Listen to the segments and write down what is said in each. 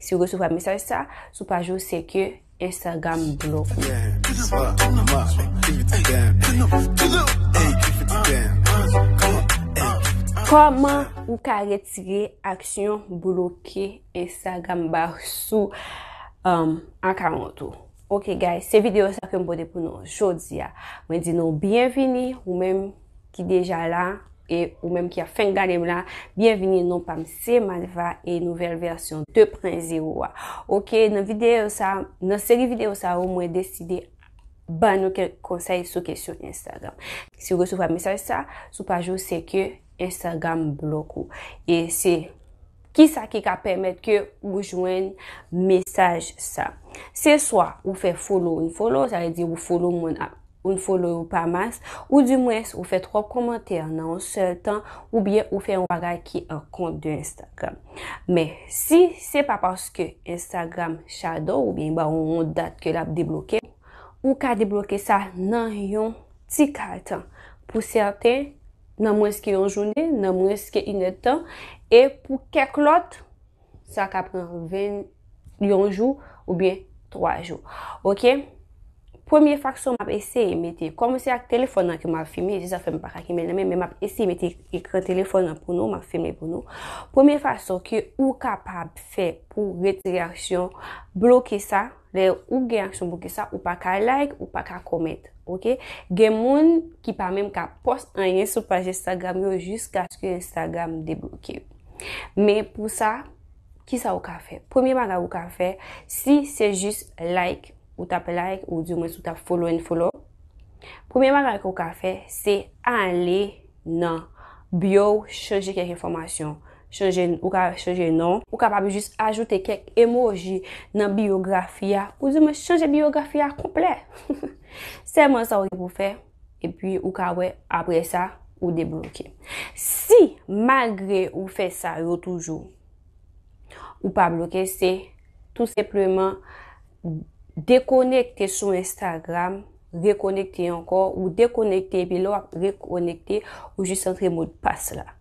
Si ou resevwa mesaj sa sou paj ou se ke Instagram bloke ou. Koman ou ka retire aksyon bloke Instagram ba ou sou um, akawont ou? Ok guys, se video sa ke m pote pou nou jodi a. Mwen di nou byenvini ou menm. ki deja la e ou menm ki ap fenk gade m la, byenvini non pa m se Malva e nouvèl vèsyon 2 pren zero a. Ok nan videyo sa, nan seri videyo sa yo mwen deside ban nou kèk konsèy sou kesyon Instagram. Si ou resevwa mesaj sa sou paj ou se ke Instagram blok ou e se Kisa ki ka pèmèt ke ou jwenn mesaj sa? Se swa ou fè follow unfollow, sa vle di ou follow moun ak unfollow yo pa mas, ou di mwens ou fè twòp kòmantè nan yon sèl tan, oubyen ou fè yon bagay ki an kont de Instagram. Men, si se pa paske Instagram shadow ou byen ba ou yon dat ke lap debloke, ou ka debloke sa nan yon ti kal tan. Pou sèten. nan mwens ke yon jounen, nan mwens ke inèdtan, e pou kèk lòt, sa ka pran 20, yon jou, ou byen 3 jou. Ok? Premye faksyon map eseye mete, kòm se ak telefon nan ke map filme, se sa fèm pa ka kenbe nan men, men map eseye mete ekran telefon nan pou nou, map filme pou nou. Premye faksyon ke ou kapab fè pou retire aksyon, bloke sa. Lè ou gen aksyon poukisa ou pa ka like ou pa ka comment ok gen moun ki pa menm ka pòs anyen sou paj instagram yo jiskaske instagram debloke yo men pou sa kisa ou ka fè premye bagay ou ka fè si se jis like ou tap like ou di mwens ou tap follow and follow premye bagay ke ou ka fè se ale nan bio chanje kèk enfòmasyon Chanje, ou ka chanje non. Ou kapab jis ajoute kèk emoji nan biyografi a, ou di mwen chanje biyografi a konplè. Sèlman sa ou gen pou fè, epi ou ka wè apre sa ou debloke. Si malgre ou fè sa yo toujou, ou pa bloke se tou sepleman dekonekte sou Instagram, rekonekte ankò, ou dekonekte epi lè wap rekonekte, ou jis antre modpas la.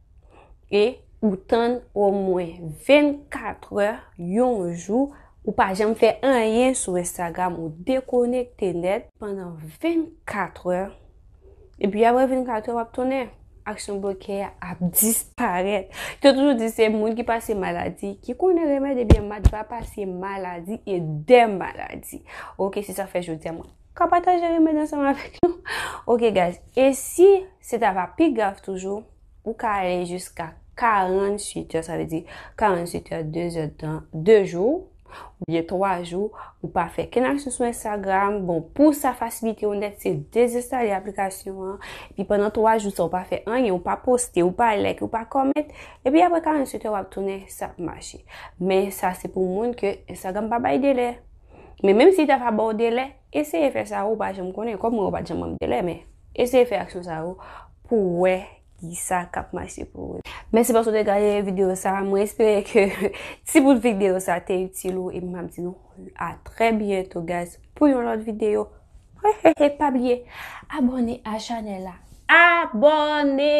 e ou tann omwen 24 è, yon jou, ou pa janm fè anyen sou Instagram, ou dekonekte nèt pandan 24 è, epi apre 24 è w ap tounen, aksyon bloke a ap disparèt. Yo te toujou di se moun ki pase maladi ki konnen remèd, ebyen Matt va pase maladi e dè maladi. Ok, se sa fè jodi a mwen. Ka pataje remèd ansanm avèk nou. Ok guys, e si se ta va pi grav toujou, ou ka ale jiska 48 è, sa vle di 48 è, 2 zè de tan, 2 jou, oubyen 3 jou, ou pa fè kenn aksyon sou Instagram, bon pou sa fasilite ou nèt, se dezenstale aplikasyon an, epi pandan 3 jou sa ou pa fè anyen, ou pa poste, ou pa like, ou pa comment, epi aprè 48 è wap tounen sa ap mache. Men sa se pou moun ke Instagram pa bay delè. Men menm si ta va ba ou delè, eseye fè sa ou pa janm konnen. Kòm mwen ou pa janm banm delè men eseye fè aksyon sa ou pou wè ki sa kap mache pou ou. Mèsi paske ou te gade videyo sa. Mwen espere ke ti bout videyo sa te itil ou epi map di nou a trè byento guys pou yon lòt videyo. E pa bliye abòne a chanèl la. Abòne!